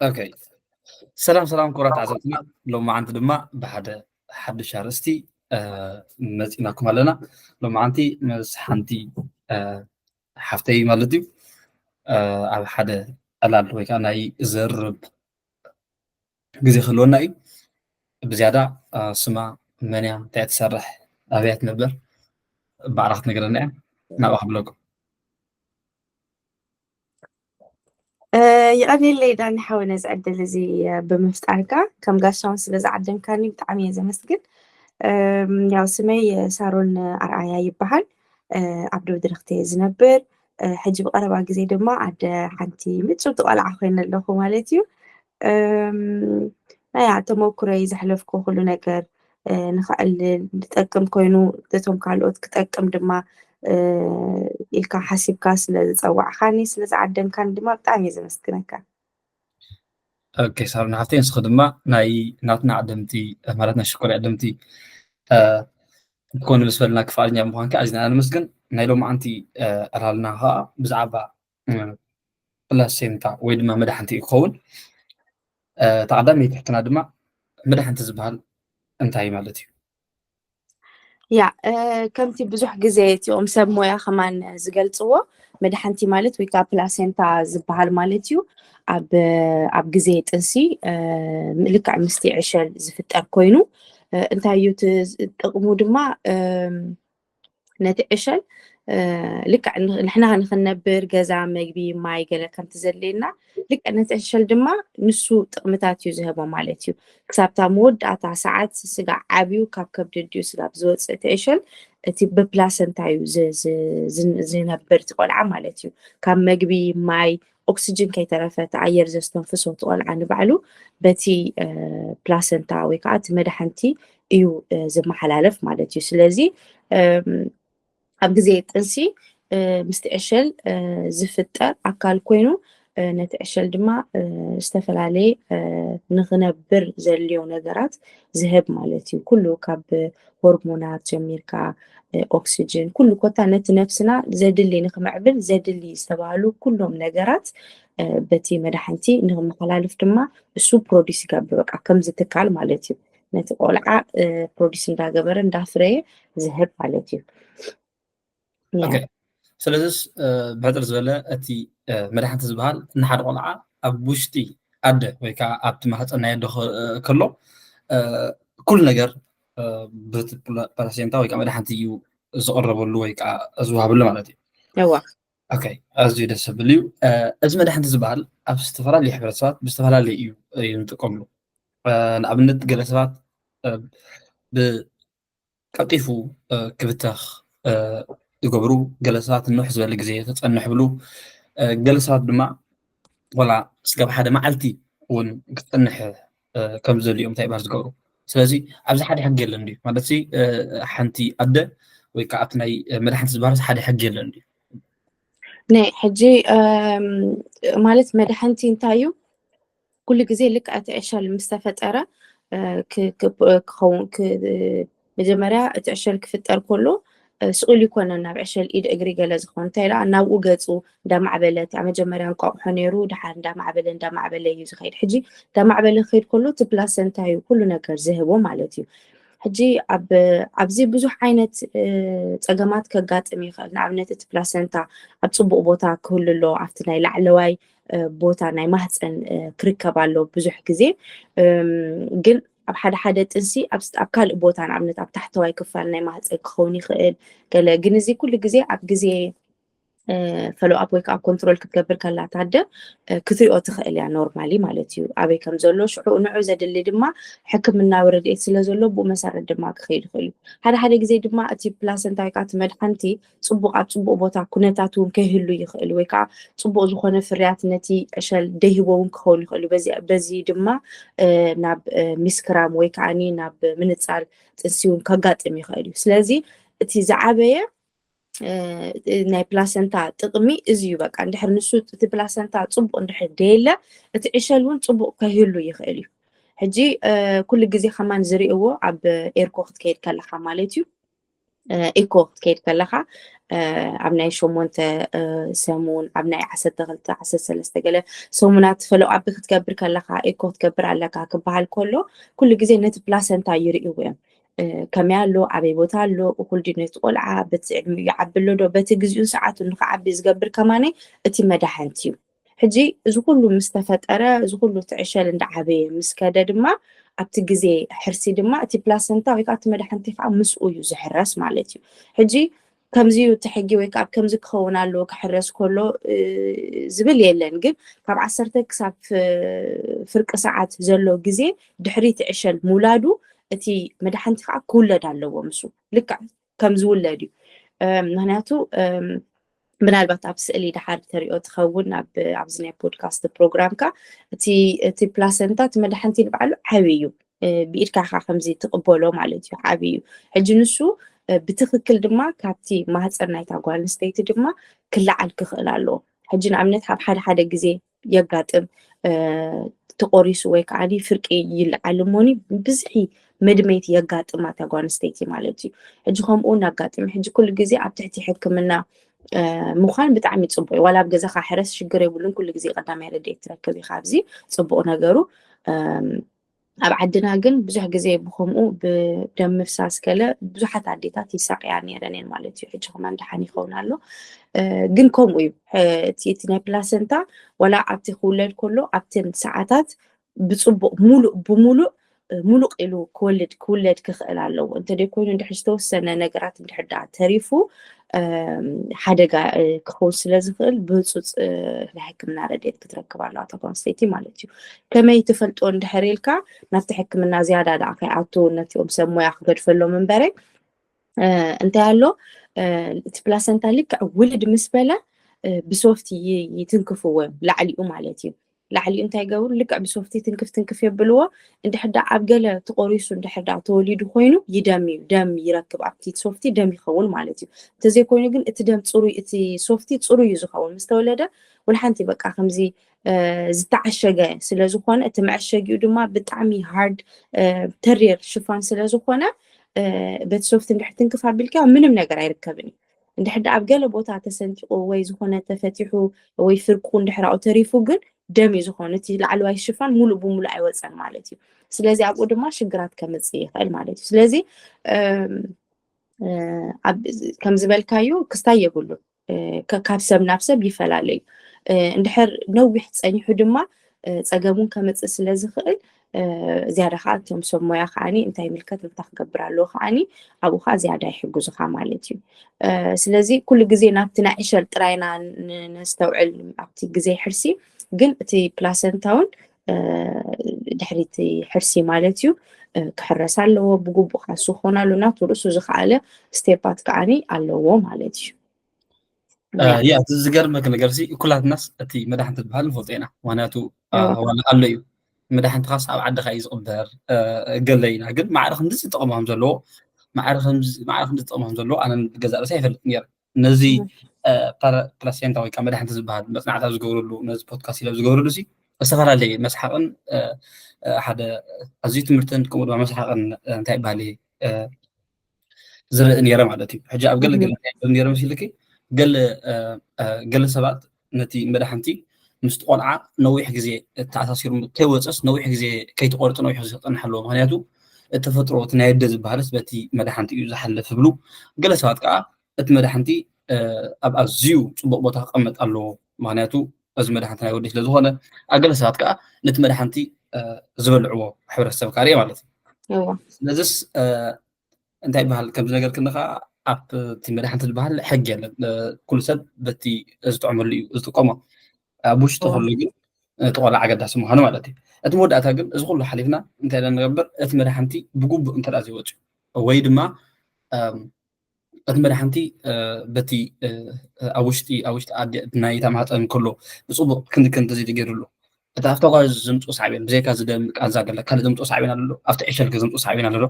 ኦኬ ሰላም ሰላም ክቡራት ተዓዘብትና ሎማዓንቲ ድማ ብሓደ ሓዱሽ ኣርእስቲ መፂእናኩም ኣለና ሎማዓንቲ ምስ ሓንቲ ሓፍተይ ማለት እዩ ኣብ ሓደ ዕላል ወይ ከዓ ናይ ዘርብ ግዜ ክህልወና እዩ ብዝያዳ ስማ መን እያ እንታይ ትሰርሕ ኣበያ ትነብር ባዕላ ክትነግረና እያ ናብኣ ክብለኩም ይቐኒለይ ዳኒ ሓወ ነዚ ዕድል እዚ ብምፍጣርካ ከም ጋሻውን ስለ ዝዓደምካኒ ብጣዕሚ እየ ዘመስግን ያው ስመይ ሳሮን ኣርኣያ ይበሃል ኣብ ደብ ድረክተ እየ ዝነብር ሕጂ ብቐረባ ግዜ ድማ ኣደ ሓንቲ ምፅውቲ ቆልዓ ኮይነ ኣለኹ ማለት እዩ ናይ ተመኩረይ ዘሕለፍኩ ኩሉ ነገር ንኸዕልል ዝጠቅም ኮይኑ እቶም ካልኦት ክጠቅም ድማ ኢልካ ሓሲብካ ስለ ዝፀዋዕካኒ ስለ ዝዓደምካኒ ድማ ብጣዕሚ እየ ዘመስግነካ ኦኬ ሳሮን ሓፍተይ ንስኺ ድማ ናይ ናትና ዓደምቲ ማለት ናይ ሽኮር ዓደምቲ ክኾኑ ምስ በልና ክፍኣልኛ ምዃንካ ኣዝና ነመስግን ናይ ሎማዓንቲ ዕላልና ከዓ ብዛዕባ ፕላሴንታ ወይ ድማ መድሓንቲ እዩ ክኸውን እታ ቀዳመይቲ ሕትና ድማ መድሓንቲ ዝበሃል እንታይ ማለት እዩ ያ ከምቲ ብዙሕ ግዜ እቲኦም ሰብ ሞያ ከማን ዝገልፅዎ መድሓንቲ ማለት ወይ ከዓ ፕላሴንታ ዝበሃል ማለት እዩ ኣብ ግዜ ጥንሲ ልክዕ ምስቲ ዕሸል ዝፍጠር ኮይኑ እንታይ እዩ ጥቕሙ ድማ ነቲ ዕሸል ልክዕ ንሕና ንክንነብር ገዛ መግቢ ማይ ገለ ከምቲ ዘድልየና ልክዕ ነቲ ዕሸል ድማ ንሱ ጥቕምታት እዩ ዝህቦ ማለት እዩ ክሳብታ መወዳእታ ሰዓት ስጋ ዓብዩ ካብ ከብዲ ድዩ ስጋ ብዝወፅእ እቲ ዕሸል እቲ ብፕላሰንታ እዩ ዝነብር እቲ ቆልዓ ማለት እዩ ካብ መግቢ ማይ ኦክስጅን ከይተረፈ እቲ ኣየር ዘስተንፍሶ እቲ ቆልዓ ንባዕሉ በቲ ፕላሰንታ ወይ ከዓ እቲ መድሓንቲ እዩ ዝመሓላለፍ ማለት እዩ ስለዚ ኣብ ግዜ ጥንሲ ምስቲ ዕሸል ዝፍጠር ኣካል ኮይኑ ነቲ ዕሸል ድማ ዝተፈላለየ ንክነብር ዘልዮ ነገራት ዝህብ ማለት እዩ ኩሉ ካብ ሆርሞናት ጀሚርካ ኦክስጅን ኩሉ ኮታ ነቲ ነፍስና ዘድሊ ንክምዕብል ዘድሊ ዝተባህሉ ኩሎም ነገራት በቲ መድሓንቲ ንክመሓላልፍ ድማ እሱ ፕሮዲስ ይገብር በቃ ከምዚ ትካል ማለት እዩ ነቲ ቆልዓ ፕሮዲስ እንዳገበረ እንዳፍረየ ዝህብ ማለት እዩ ስለዚስ ብሕፅር ዝበለ እቲ መድሓንቲ ዝበሃል ንሓደ ቆልዓ ኣብ ውሽጢ ኣደ ወይ ከዓ ኣብቲ ማህፀን ናይ ኣደ ከሎ ኩሉ ነገር በቲ ፕላሴንታ ወይ ከዓ መድሓንቲ እዩ ዝቐረበሉ ወይ ከዓ ዝወሃበሉ ማለት እዩ ኣዝዩ ደስ ዝብል እዩ እዚ መድሓንቲ ዝበሃል ኣብ ዝተፈላለዩ ሕብረተሰባት ብዝተፈላለዩ እዩ እዩ ንጥቀምሉ ንኣብነት ገለ ሰባት ቀልጢፉ ክብተኽ ዝገብሩ ገለ ሰባት ንውሕ ዝበለ ግዜ ክፀንሕ ብሉ ገለ ሰባት ድማ ወላ ስጋብ ሓደ መዓልቲ እውን ክፀንሕ ከም ዘድልዮም እንታይ ባር ዝገብሩ ስለዚ ኣብዚ ሓደ ሕጊ የለን ድዩ ማለት ሓንቲ ኣደ ወይ ከዓ ኣብቲ ናይ መድሓንቲ ዝበሃርስ ሓደ ሕጊ የለን ድዩ ናይ ሕጂ ማለት መድሓንቲ እንታይ እዩ ኩሉ ግዜ ልክዕ እቲ ዕሸል ምስ ተፈጠረ ክኸውን መጀመርያ እቲ ዕሸል ክፍጠር ከሎ ስኡል ይኮነን ናብ ዕሸል ኢድ እግሪ ገለ ዝኸውን እንታይ ደኣ ናብኡ ገጹ እንዳማዕበለ እቲ ኣብ መጀመርያ እንቋቑሖ ነይሩ ድሓር እንዳማዕበለ እንዳማዕበለ እዩ ዝኸይድ ሕጂ እንዳማዕበለ ክኸይድ ከሎ እቲ ፕላሰንታ እዩ ኩሉ ነገር ዝህቦ ማለት እዩ ሕጂ ኣብ ኣብዚ ብዙሕ ዓይነት ፀገማት ከጋጥም ይኽእል ንኣብነት እቲ ፕላሰንታ ኣብ ፅቡቕ ቦታ ክህሉ ኣለዎ ኣብቲ ናይ ላዕለዋይ ቦታ ናይ ማህፀን ክርከብ ኣሎ ብዙሕ ግዜ ግን ኣብ ሓደ ሓደ ጥንሲ ኣብ ካልእ ቦታ ንኣብነት ኣብ ታሕተዋይ ክፋል ናይ ማህፀን ክኸውን ይኽእል ገለ ግን እዚ ኩሉ ግዜ ኣብ ግዜ ፈሎኣፕ ወይ ከዓ ኮንትሮል ክትገብር ከላ ታደ ክትሪኦ ትኽእል እያ ኖርማሊ ማለት እዩ ኣበይ ከም ዘሎ ሽዑ ንዑ ዘድሊ ድማ ሕክምናዊ ረድኤት ስለ ዘሎ ብኡ መሰረት ድማ ክኸይድ ይኽእል እዩ ሓደ ሓደ ግዜ ድማ እቲ ፕላሰንታ ወይ ከዓ እቲ መድሓንቲ ፅቡቕ ኣብ ፅቡቕ ቦታ ኩነታት እውን ከይህሉ ይኽእል ወይ ከዓ ፅቡቕ ዝኾነ ፍርያት ነቲ ዕሸል ደይህቦ እውን ክኸውን ይኽእል በዚ ድማ ናብ ሚስክራም ወይ ከዓ ናብ ምንፃል ጥንሲ እውን ከጋጥም ይኽእል እዩ ስለዚ እቲ ዝዓበየ ናይ ፕላሰንታ ጥቕሚ እዚ እዩ በቃ እንድሕር ንሱ እቲ ፕላሰንታ ፅቡቕ እንድሕር ደየለ እቲ ዕሸል እውን ፅቡቕ ከይህሉ ይኽእል እዩ ሕጂ ኩሉ ግዜ ከማን ዝርእዎ ኣብ ኤርኮ ክትከይድ ከለካ ማለት እዩ ኢኮ ክትከይድ ከለኻ ኣብ ናይ ሸሞንተ ሰሙን ኣብ ናይ ዓሰርተ ክልተ ዓሰርተ ሰለስተ ገለ ሰሙናት ፈለው ኣቢ ክትገብር ከለኻ ኢኮ ክትገብር ኣለካ ክበሃል ከሎ ኩሉ ግዜ ነቲ ፕላሰንታ ይርእይዎ እዮም ከመይ ኣሎ ኣበይ ቦታ ኣሎ እኩል ድዩ ነቲ ቆልዓ በቲ ዕድሚኡ ይዓቢ ኣሎ ዶ በቲ ግዜኡን ሰዓቱን ንክዓቢ ዝገብር ከማነይ እቲ መዳሕንቲ እዩ ሕጂ እዚ ኩሉ ምስ ተፈጠረ፣ እዚ ኩሉ እቲ ዕሸል እንዳ ዓበየ ምስ ከደ ድማ ኣብቲ ግዜ ሕርሲ ድማ እቲ ፕላሰንታ ወይ ከኣ እቲ መዳሕንቲ ከኣ ምስኡ እዩ ዝሕረስ ማለት እዩ። ሕጂ ከምዚ እዩ እቲ ሕጊ ወይ ከኣ ከምዚ ክኸውን ኣለዎ ክሕረስ ከሎ ዝብል የለን ግን ካብ ዓሰርተ ክሳብ ፍርቂ ሰዓት ዘሎ ግዜ ድሕሪ እቲ ዕሸል ምውላዱ እቲ መዳሕንቲ ከኣ ክውለድ ኣለዎ ምስኡ ልክዕ ከም ዝውለድ እዩ ምክንያቱ ምናልባት ኣብ ስእሊ ድሓር ተሪኦ ትኸውን ኣብዚ ናይ ፖድካስት ፕሮግራምካ እቲ ፕላሰንታ እቲ መድሓንቲ ንባዕሉ ዓብዪ እዩ ብኢድካ ካ ከምዚ ትቕበሎ ማለት እዩ ዓብዪ እዩ ሕጂ ንሱ ብትክክል ድማ ካብቲ ማህፀን ናይታ ጓል ኣንስተይቲ ድማ ክለዓል ክኽእል ኣለዎ ሕጂ ንኣብነት ኣብ ሓደ ሓደ ግዜ የጋጥም ተቆሪሱ ወይ ከዓ ፍርቂ ይልዓል እሞኒ ብዝሒ መድመይቲ የጋጥማ እታ ጓል ኣንስተይቲ ማለት እዩ ሕጂ ከምኡ እውን ኣጋጥሚ ሕጂ ኩሉ ግዜ ኣብ ትሕቲ ሕክምና ምዃን ብጣዕሚ ፅቡቅ እዩ ዋላ ኣብ ገዛካ ሕረስ ሽግር የብሉን ኩሉ ግዜ ቀዳማይ ረድኤት ትረክብ ኢካ ኣብዚ ፅቡቅ ነገሩ ኣብ ዓድና ግን ብዙሕ ግዜ ብከምኡ ብደም ምፍሳስ ገለ ብዙሓት ኣዴታት ይሳቅያ ነይረን እየን ማለት እዩ ሕጂ ከማን ደሓን ይኸውን ኣሎ ግን ከምኡ እዩ እቲ ናይ ፕላሰንታ ዋላ ኣብቲ ክውለድ ከሎ ኣብተን ሰዓታት ብፅቡቅ ሙሉእ ብሙሉእ ሙሉቅ ኢሉ ክወልድ ክውለድ ክኽእል ኣለዎ እንተደይ ኮይኑ እንድሕር ዝተወሰነ ነገራት እንድሕር ደኣ ተሪፉ ሓደጋ ክኸውን ስለ ዝኽእል ብህፁፅ ናይ ሕክምና ረድኤት ክትረክብ ኣለዋ እታ ጓንስተይቲ ማለት እዩ ከመይ ትፈልጦ እንድሕር ኢልካ ናብቲ ሕክምና ዝያዳ ደኣ ከይኣቱ ነቲኦም ሰብ ሞያ ክገድፈሎም እምበረ እንታይ ኣሎ እቲ ፕላሰንታ ልክዕ ውልድ ምስ በለ ብሶፍት ይትንክፍዎ እዮም ላዕሊኡ ማለት እዩ ላዕሊኡ እንታይ ይገብሩ ልክዕ ብሶፍቲ ትንክፍ ትንክፍ የብልዎ እንድሕር ዳኣ ኣብ ገለ ተቆሪሱ እንድሕር ዳኣ ተወሊዱ ኮይኑ ይደም እዩ ደም ይረክብ ኣብቲ ሶፍቲ ደም ይኸውን ማለት እዩ እንተዘይኮይኑ ግን እቲ ደም ፅሩይ እቲ ሶፍቲ ፅሩይ እዩ ዝኸውን ምስ ተወለደ ወልሓንቲ በቃ ከምዚ እ፣ ዝተዓሸገ ስለ ዝኾነ እቲ መዐሸጊኡ ድማ ብጣዕሚ ሃርድ ተሪር ሽፋን ስለ ዝኾነ እ፣ በቲ ሶፍቲ እንድሕር ትንክፍ ኣቢልካ ምንም ነገር ኣይርከብን እዩ እንድሕር ደኣ ኣብ ገለ ቦታ ተሰንጢቑ ወይ ዝኾነ ተፈቲሑ ወይ ፍርቁ እንድሕር ኣብኡ ተሪፉ ግን ደም እዩ ዝኾኑ እቲ ላዕለዋይ ሽፋን ሙሉእ ብሙሉእ ኣይወፀን ማለት እዩ ስለዚ ኣብኡ ድማ ሽግራት ከምፅእ ይኽእል ማለት እዩ ስለዚ ከም ዝበልካዩ ክስታይ የብሉ ካብ ሰብ ናብ ሰብ ይፈላለዩ እንድሕር ነዊሕ ፀኒሑ ድማ ፀገሙን ከምፅእ ስለ ዝኽእል ዝያዳ ከዓ እቶም ሰብ ሞያ ከዓኒ እንታይ ይምልከት እንታይ ክገብር ኣለዎ ከዓኒ ኣብኡ ከዓ ዝያዳ ይሕግዙኻ ማለት እዩ ስለዚ ኩሉ ግዜ ናብቲ ናይ ዕሸል ጥራይና ነስተውዕል ኣብቲ ግዜ ሕርሲ ግን እቲ ፕላሰንታ እውን ድሕሪ እቲ ሕርሲ ማለት እዩ ክሕረስ ኣለዎ ብግቡእ ካሱ ክኾን ኣሎ ናቱ ርእሱ ዝኸኣለ ስቴፓት ከዓኒ ኣለዎ ማለት እዩ ያ እቲ ዝገርመክ ነገር ኩላትናስ እቲ መድሓንቲ ዝበሃል ንፈልጦ ኢና ምክንያቱ ኣሎ እዩ መዳሕንትኻስ ኣብ ዓድኻ እዩ ዝቕበር ገለ ኢና ግን ማዕረ ክንድዚ ጥቕሚ ከም ዘለዎ ማዕረ ክንድዚ ጥቕሚ ከም ዘለዎ ኣነ ገዛ ርእሲ ኣይፈልጥ ነይረ ነዚ ፕላሴንታ ወይ ከዓ መድሓንቲ ዝበሃል መፅናዕታት ዝገብረሉ ነዚ ፖድካስት ኢለ ዝገብረሉ ሲ ዝተፈላለየ መስሓቕን ሓደ ኣዝዩ ትምህርትን ከምኡ ድማ መስሓቕን እንታይ ይበሃል ዝርኢ ነይረ ማለት እዩ ሕጂ ኣብ ገለ ገለ ነይረ መሲልኪ ገለ ገለ ሰባት ነቲ መድሓንቲ ምስቲ ቆልዓ ነዊሕ ግዜ ተኣሳሲሩ ከይወፀስ ነዊሕ ግዜ ከይትቆርፂ ነዊሕ ግዜ ክፀንሕ ኣለዎ ምክንያቱ ተፈጥሮ እቲ ናይ ኣደ ዝበሃልስ በቲ መድሓንቲ እዩ ዝሓልፍ ይብሉ ገለ ሰባት ከዓ እቲ መድሓንቲ ኣብ ኣዝዩ ፅቡቕ ቦታ ክቐመጥ ኣለዎ ምክንያቱ እዚ መድሓንቲ ናይ ወዲ ስለዝኾነ ኣብ ገለ ሰባት ከዓ ነቲ መድሓንቲ ዝበልዕዎ ሕብረተሰብ ካርየ ማለት እዩ ስለዚስ እንታይ ይበሃል ከምዚ ነገር ክንኻ ኣብቲ መድሓንቲ ዝበሃል ሕጊ የለን ኩሉ ሰብ በቲ ዝጥዕመሉ እዩ ዝጥቀሞ ኣብ ውሽጢ ኩሉ ግን እቲ ቆልዓ ኣገዳሲ ምዃኑ ማለት እዩ እቲ መወዳእታ ግን እዚ ኩሉ ሓሊፍና እንታይ ኢና ንገብር እቲ መድሓንቲ ብግቡእ እንተ ዘይወፅዩ ወይ ድማ እቲ መድሓንቲ በቲ ኣብ ውሽጢ ኣብ ውሽጢ ኣደ ናይ ተማህፀን እንከሎ ብፅቡቅ ክንዲ ክንዲ ዘይተገይሩሉ እቲ ኣብታ ጓል ዘምፅኦ ሳዕቤን ብዘይካ እዚ ደም ቃንዛ ገለ ካልእ ዘምፅኦ ሳዕቤን ኣሎ ዶ ኣብቲ ዕሸል ገ ዘምፅኦ ሳዕቤን ኣሎ ዶ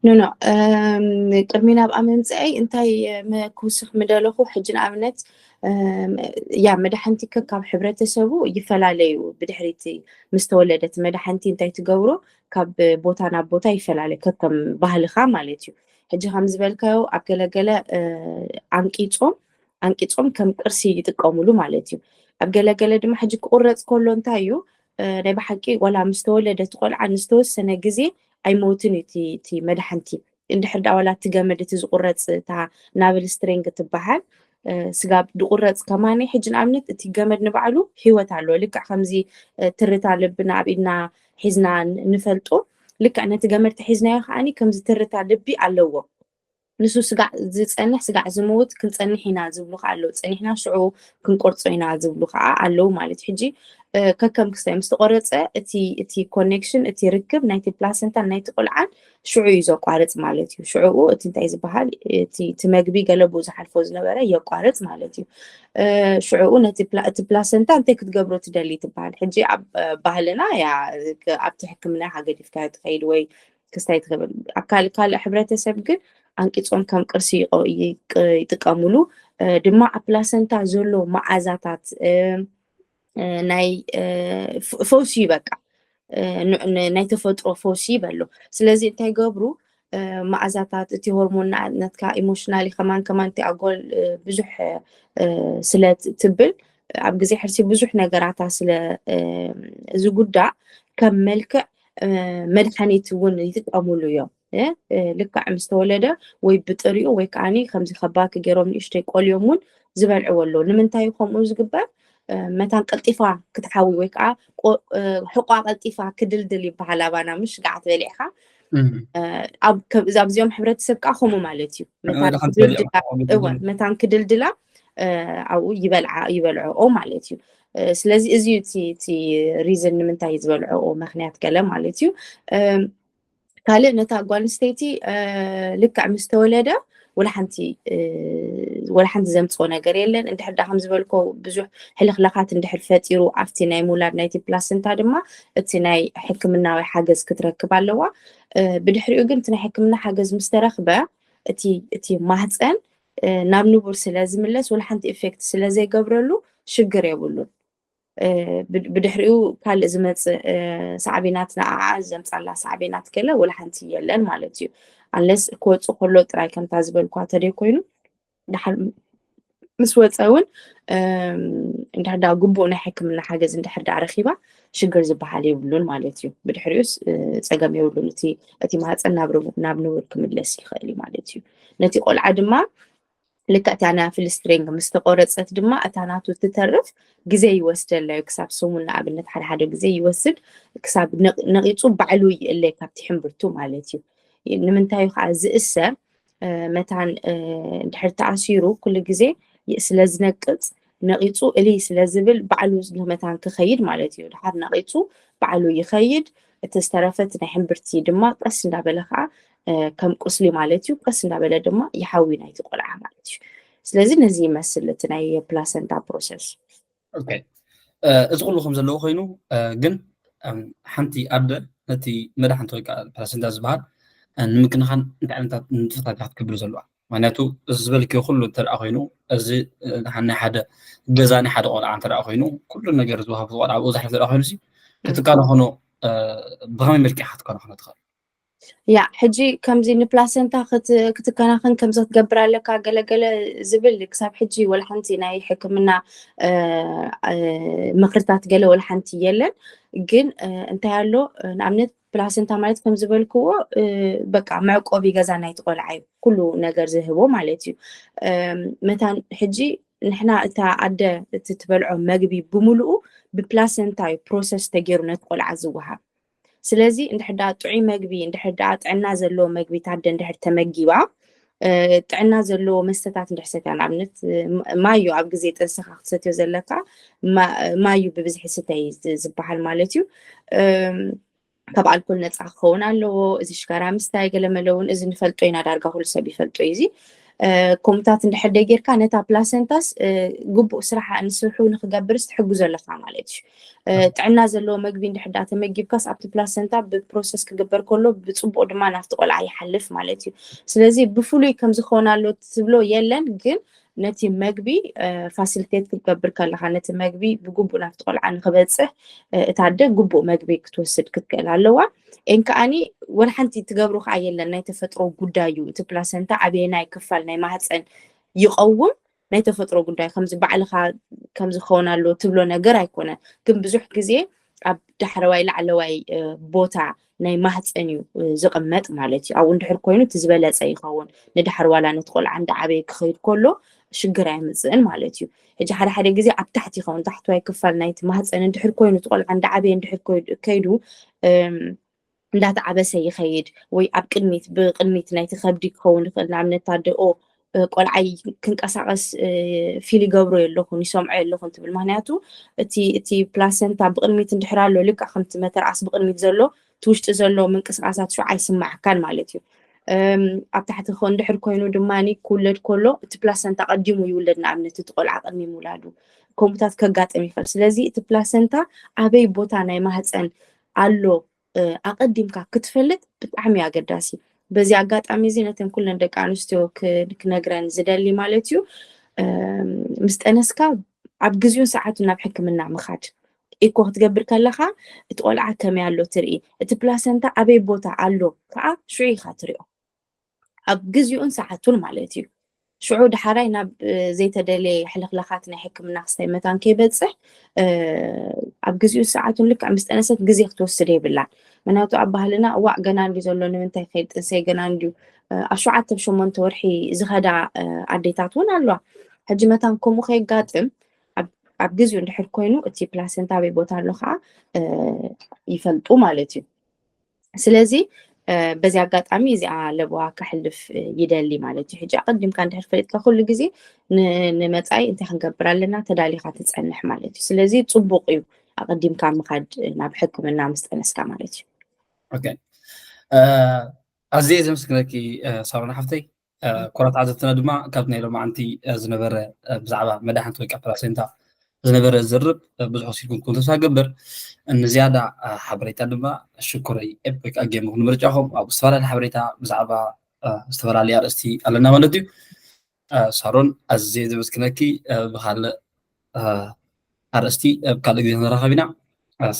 ኖኖ ቅድሚ ናብኣ ምምፅኣይ እንታይ ክውስኽ ምደለኹ ሕጂ ንኣብነት ያ መድሓንቲ ከካብ ሕብረተሰቡ ይፈላለዩ ብድሕሪቲ ምስ ተወለደት መድሓንቲ እንታይ ትገብሮ ካብ ቦታ ናብ ቦታ ይፈላለዩ ከከም ባህልኻ ማለት እዩ ሕጂ ከምዝበልካዮ ኣብ ገለገለ ዓንቂፆም ዓንቂፆም ከም ቅርሲ ይጥቀምሉ ማለት እዩ ኣብ ገለገለ ድማ ሕጂ ክቁረፅ ከሎ እንታይ እዩ ናይ ብሓቂ ዋላ ምስ ተወለደ እቲ ቆልዓ ንዝተወሰነ ግዜ ኣይመውትን እዩ እቲ መድሓንቲ እንድሕር ዳ ዋላ እቲ ገመድ እቲ ዝቁረፅ እታ ናብል ስትሪንግ ትበሃል ስጋ ድቁረፅ ከማኒ ሕጂ ንኣብነት እቲ ገመድ ንባዕሉ ሂወት ኣለዎ ልክዕ ከምዚ ትርታ ልብና ኣብ ኢድና ሒዝና ንፈልጦ ልክዕ ነቲ ገመድ ተሒዝናዮ ከዓኒ ከም ዝትርታ ልቢ ኣለዎ ንሱ ስጋዕ ዝፀንሕ ስጋዕ ዝምውት ክንፀንሕ ኢና ዝብሉ ከዓ ኣለዉ ፀኒሕና ሽዑ ክንቆርፆ ኢና ዝብሉ ከዓ ኣለዉ ማለት ሕጂ ከከም ክስታይ ምስ ተቆረፀ እቲ ኮኔክሽን እቲ ርክብ ናይቲ ፕላሰንታን ናይቲ ቆልዓን ሽዑ እዩ ዘቋርፅ ማለት እዩ ሽዑኡ እቲ እንታይ ዝበሃል እቲ መግቢ ገለቡ ዝሓልፎ ዝነበረ የቋርፅ ማለት እዩ ሽዑኡ ነቲ እቲ ፕላሰንታ እንታይ ክትገብሮ ትደሊ ትበሃል ሕጂ ኣብ ባህልና ያ ኣብቲ ሕክምና ሃገዲፍካ ትኸይድ ወይ ክስታይ ትኽብል ኣብ ካልእ ካልእ ሕብረተሰብ ግን ኣንቂፆም ከም ቅርሲ ይጥቀምሉ ድማ ኣብ ፕላሰንታ ዘሎ መዓዛታት ናይ ፈውሲ እዩ በቃ ናይ ተፈጥሮ ፈውሲ ይበሎ ስለዚ እንታይ ገብሩ መኣዛታት እቲ ሆርሞን ናትካ ኢሞሽናሊ ከማን ከማን እቲ ኣጎል ብዙሕ ስለ ትብል ኣብ ግዜ ሕርሲ ብዙሕ ነገራታ ስለ ዝጉዳእ ከም መልክዕ መድሓኒት እውን ይጥቀሙሉ እዮም ልክዕ ምስ ተወለደ ወይ ብጥሪኡ ወይ ከዓኒ ከምዚ ከባኪ ገይሮም ንእሽተይ ቆልዮም እውን ዝበልዕዎ ኣሎ ንምንታይ ከምኡ ዝግበር መታን ቀልጢፋ ክትሓዊ ወይ ከዓ ሕቋ ቀልጢፋ ክድልድል ይበሃል ኣባና ምሽ ገዓት በሊዕካ ኣብዚኦም ሕብረተሰብ ከዓ ከምኡ ማለት እዩ መታን ክድልድላ ኣብኡ ይበልዓ ይበልዐኦ ማለት እዩ ስለዚ እዚ እቲ ሪዝን ንምንታይ ዝበልዐኦ ምክንያት ገለ ማለት እዩ ካልእ ነታ ጓል ኣንስተይቲ ልክዕ ምስ ተወለደ ወላ ሓንቲ ወላ ሓንቲ ዘምፅኦ ነገር የለን እንድሕር ዳ ከም ዝበልኮ ብዙሕ ሕልኽላኻት እንድሕር ፈጢሩ ኣብቲ ናይ ምውላድ ናይቲ ፕላስንታ ድማ እቲ ናይ ሕክምናዊ ሓገዝ ክትረክብ ኣለዋ ብድሕሪኡ ግን እቲ ናይ ሕክምና ሓገዝ ምስ ተረኽበ እቲ ማህፀን ናብ ንቡር ስለ ዝምለስ ወላ ሓንቲ ኢፌክት ስለ ዘይገብረሉ ሽግር የብሉን ብድሕሪኡ ካልእ ዝመጽእ ሳዕቤናት ንዓዓ ዘምጻላ ሳዕቤናት ገለ ወላ ሓንቲ የለን ማለት እዩ ኣለስ ክወፅእ ከሎ ጥራይ ከምታ ዝበልኳ ተደይ ኮይኑ ድሓር ምስ ወፀ እውን እንድሕር ዳ ግቡእ ናይ ሕክምና ሓገዝ እንድሕር ዳ ረኪባ ሽግር ዝበሃል የብሉን ማለት እዩ ብድሕሪኡስ ፀገም የብሉን እቲ እቲ ማህፀን ናብ ንቡር ክምለስ ይኽእል እዩ ማለት እዩ ነቲ ቆልዓ ድማ ልክዕ እታ ናይ ፍልስትሬንግ ምስ ተቆረጸት ድማ እታ ናቱ እትተርፍ ግዜ ይወስደላ እዩ ክሳብ ሰሙን ንኣብነት ሓደ ሓደ ግዜ ይወስድ ክሳብ ነቂጹ ባዕሉ ይእለ ካብቲ ሕምብርቱ ማለት እዩ ንምንታይ እዩ ከዓ ዝእሰር መታን ድሕር ተኣሲሩ ኩሉ ግዜ ስለ ዝነቅፅ ነቂፁ እሊ ስለ ዝብል ባዕሉ መታን ክኸይድ ማለት እዩ ድሓር ነቂፁ ባዕሉ ይኸይድ እቲ ዝተረፈት ናይ ሕምብርቲ ድማ ቀስ እንዳበለ ከዓ ከም ቁስሊ ማለት እዩ ቀስ እንዳበለ ድማ ይሓዊ ናይቲ ቆልዓ ማለት እዩ ስለዚ ነዚ ይመስል እቲ ናይ ፕላሰንታ ፕሮሰስ እዚ ኩሉ ከም ዘለዎ ኮይኑ ግን ሓንቲ ኣደ ነቲ መድሓንቲ ወይ ከዓ ፕላሰንታ ዝበሃል ንምክንኻን እንታይ ዓይነታት ንጥፈታት እያ ክትገብር ዘለዋ ምክንያቱ እዚ ዝበልክዮ ኩሉ እንተደኣ ኮይኑ እዚ ናይ ሓደ ገዛ ናይ ሓደ ቆልዓ እንተደኣ ኮይኑ ኩሉ ነገር ዝወሃብ ቆልዓ ብኡ ዝሓልፍ እንተደኣ ኮይኑ ክትከናኸኖ ብኸመይ መልክዕ ክትከናኸኖ ትኽእል ያ ሕጂ ከምዚ ንፕላሰንታ ክትከናኸን ከምዚ ክትገብር ኣለካ ገለገለ ዝብል ክሳብ ሕጂ ወላ ሓንቲ ናይ ሕክምና ምክርታት ገለ ወላ ሓንቲ የለን ግን እንታይ ኣሎ ንኣብነት ፕላሰንታ ማለት ከም ዝበልክዎ በቃ መዕቆቢ ገዛ ናይቲ ቆልዓ እዩ ኩሉ ነገር ዝህቦ ማለት እዩ መታን ሕጂ ንሕና እታ ኣደ እቲ ትበልዖ መግቢ ብምሉኡ ብፕላሰንታ እዩ ፕሮሰስ ተገይሩ ነቲ ቆልዓ ዝወሃብ ስለዚ እንድሕር ደኣ ጥዑይ መግቢ እንድሕር ደኣ ጥዕና ዘለዎ መግቢ ታደ እንድሕር ተመጊባ ጥዕና ዘለዎ መስተታት እንድሕር ሰትያ ንኣብነት ማዩ ኣብ ግዜ ጥንስኻ ክትሰትዮ ዘለካ ማዩ ብብዝሒ ስተይ ዝበሃል ማለት እዩ ካብ ኣልኮል ነፃ ክኸውን ኣለዎ እዚ ሽጋራ ምስታይ ገለመለ እውን እዚ ንፈልጦ ኢና ዳርጋ ኩሉ ሰብ ይፈልጦ እዩ እዚ ከምኡታት እንድሕር ደጌርካ ነታ ፕላሰንታስ ግቡእ ስራሕ ንስርሑ ንክገብርስ ትሕግዞ ኣለካ ማለት እዩ ጥዕና ዘለዎ መግቢ እንድሕዳ ተመጊብካስ ኣብቲ ፕላሰንታ ብፕሮሰስ ክግበር ከሎ ብፅቡቅ ድማ ናብቲ ቆልዓ ይሓልፍ ማለት እዩ ስለዚ ብፍሉይ ከምዝኾነ ኣሎ ትብሎ የለን ግን ነቲ መግቢ ፋሲሊቴት ክትገብር ከለካ ነቲ መግቢ ብግቡእ ናብቲ ቆልዓ ንክበፅሕ እታ ኣደ ግቡእ መግቢ ክትወስድ ክትክእል ኣለዋ ኤን ከዓኒ ወላ ሓንቲ ትገብሮ ከዓ የለን ናይ ተፈጥሮ ጉዳይ እዩ እቲ ፕላሰንታ ኣበየናይ ክፋል ናይ ማህፀን ይቐውም ናይ ተፈጥሮ ጉዳይ ከምዚ ባዕልኻ ከምዚ ክኸውን ኣለዎ ትብሎ ነገር ኣይኮነን ግን ብዙሕ ግዜ ኣብ ዳሕረዋይ ላዕለዋይ ቦታ ናይ ማህፀን እዩ ዝቕመጥ ማለት እዩ ኣብኡ እንድሕር ኮይኑ እቲ ዝበለፀ ይኸውን ንዳሕር ዋላ ነቲ ቆልዓ እንዳዓበየ ክኸይድ ከሎ ሽግር ኣይምፅእን ማለት እዩ ሕጂ ሓደ ሓደ ግዜ ኣብ ታሕቲ ይኸውን ታሕተዋይ ክፋል ናይቲ ማህፀን እንድሕር ኮይኑ እቲ ቆልዓ እንዳዓበየ እንድሕር ከይዱ እንዳተዓበሰ ይኸይድ ወይ ኣብ ቅድሚት ብቅድሚት ናይቲ ከብዲ ክኸውን ይኽእል ንኣብነት ኣደኦ ቆልዓይ ክንቀሳቀስ ፊል ይገብሮ የለኹን ይሰምዖ የለኹን ትብል ምክንያቱ እቲ ፕላሰንታ ብቅድሚት እንድሕር ኣሎ ልክዕ ከምቲ መተርኣስ ብቅድሚት ዘሎ እቲ ውሽጢ ዘሎ ምንቅስቓሳት ሹ ኣይስማዓካን ማለት እዩ ኣብ ታሕቲ እንድሕር ኮይኑ ድማ ክውለድ ከሎ እቲ ፕላሰንታ ቀዲሙ ይውለድ ንኣብነት እቲ ቆልዓ ቅድሚ ምውላዱ ከምኡታት ከጋጥም ይኽእል ስለዚ እቲ ፕላሰንታ ኣበይ ቦታ ናይ ማህፀን ኣሎ ኣቐዲምካ ክትፈልጥ ብጣዕሚ ኣገዳሲ በዚ ኣጋጣሚ እዚ ነተን ኩለን ደቂ ኣንስትዮ ክነግረን ዝደሊ ማለት እዩ ምስ ጠነስካ ኣብ ግዜኡን ሰዓቱን ናብ ሕክምና ምኻድ። ኢኮ ክትገብር ከለኻ እቲ ቆልዓ ከመይ ኣሎ ትርኢ፣ እቲ ፕላሰንታ ኣበይ ቦታ ኣሎ ከኣ ሽዑ ኢኻ ትሪኦ። ኣብ ግዜኡን ሰዓቱን ማለት እዩ። ሽዑ ዳሓራይ ናብ ዘይተደለየ ሕልኽላኻት ናይ ሕክምና ክስታይ መታን ከይበጽሕ ኣብ ግዜኡን ሰዓቱን ልክዕ ምስ ጠነሰት ግዜ ክትወስድ የብላን። ምክንያቱ ኣብ ባህልና እዋእ ገና እንድዩ ዘሎ ንምንታይ ክኸይድ ጥንሰይ ገና እንድዩ ኣብ ሸውዓተ ብ ሸሞንተ ወርሒ ዝኸዳ ኣዴታት እውን ኣለዋ ሕጂ መታን ከምኡ ከየጋጥም ኣብ ግዜኡ እንድሕር ኮይኑ እቲ ፕላሰንታ ኣበይ ቦታ ኣሎ ከዓ ይፈልጡ ማለት እዩ ስለዚ በዚ ኣጋጣሚ እዚኣ ለበዋ ከሕልፍ ይደሊ ማለት እዩ ሕጂ ኣቀዲምካ እንድሕር ፈሊጥካ ኩሉ ግዜ ንመፃኢ እንታይ ክንገብር ኣለና ተዳሊካ ትፀንሕ ማለት እዩ ስለዚ ፅቡቅ እዩ ኣቀዲምካ ምካድ ናብ ሕክምና ምስ ጠነስካ ማለት እዩ ኣዝየ ዘምስግነኪ ሳሮን ሓፍተይ ኩራት ዓዘብትና ድማ ካብ ናይ ሎማዓንቲ ዝነበረ ብዛዕባ መድሓንቲ ወይ ከዓ ፕላሴንታ ዝነበረ ዝርብ ብዙሕ ወሲድኩም ተስፋ ገብር ንዝያዳ ሓበሬታ ድማ ሽኩረይ ኤፕ ወይ ከዓ ጌምኹም ንምርጫኹም ኣብ ዝተፈላለዩ ሓበሬታ ብዛዕባ ዝተፈላለዩ ኣርእስቲ ኣለና ማለት እዩ ሳሮን ኣዝየ ዘመስግነኪ ብካልእ ኣርእስቲ ኣብ ካልእ ግዜ ንራኸብ ኢና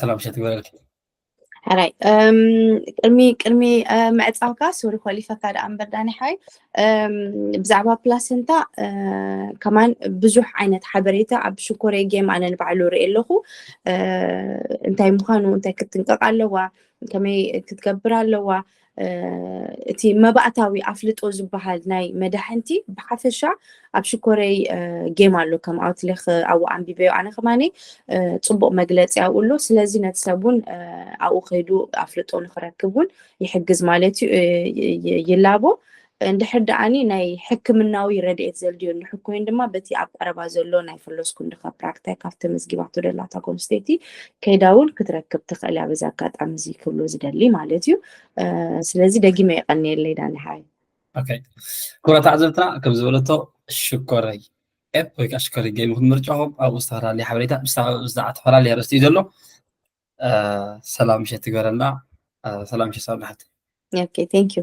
ሰላም ሸት ይበለልኪ ሓራይ ቅድሚ ቅድሚ ምዕፃውካ ሱሪ ኮሊፈካ ደኣ እምበር ዳኒ ሓይ ብዛዕባ ፕላሰንታ ከማን ብዙሕ ዓይነት ሓበሬታ ኣብ ሽኮሬ ጌም ኣነ ንባዕሉ ርኢ ኣለኹ እንታይ ምዃኑ እንታይ ክትንቀቕ ኣለዋ ከመይ ክትገብር ኣለዋ እቲ መባእታዊ ኣፍልጦ ዝበሃል ናይ መዳሕንቲ ብሓፈሻ ኣብ ሽኮረይ ጌም ኣሎ ከም ኣውትሌክ ኣብኡ ኣንቢበዮ ኣነ ከማኒ ፅቡቅ መግለፂ ኣብኡ ኣሎ ስለዚ ነቲ ሰብ እውን ኣብኡ ከይዱ ኣፍልጦ ንክረክብ እውን ይሕግዝ ማለት እዩ ይላቦ እንድሕር ደኣኒ ናይ ሕክምናዊ ረድኤት ዘልድዮ እንድሕር ኮይኑ ድማ በቲ ኣብ ቀረባ ዘሎ ናይ ፈሎስ ኩንድኻ ፕራክታይ ካብ ተመዝጊባቶ ደላታ ኮምስቴቲ ከይዳ እውን ክትረክብ ትኽእል እያ በዚ ኣጋጣሚ እዚ ክብሎ ዝደሊ ማለት እዩ ስለዚ ደጊመ የቐንየለይ ዳኒ ሓይ ክብራት ኣዕዘብትና ከም ዝበለቶ ሽኮረይ ኤፕ ወይ ከዓ ሽኮረይ ገይም ይኹን ምርጫኹም ኣብኡ ዝተፈላለየ ሓበሬታ ብዛዕባ ተፈላለየ ኣርእስቲ እዩ ዘሎ ሰላም ምሸት ትገበረልና ሰላም ምሸት ሳብ ንሓት ኦኬ ቴንክ ዩ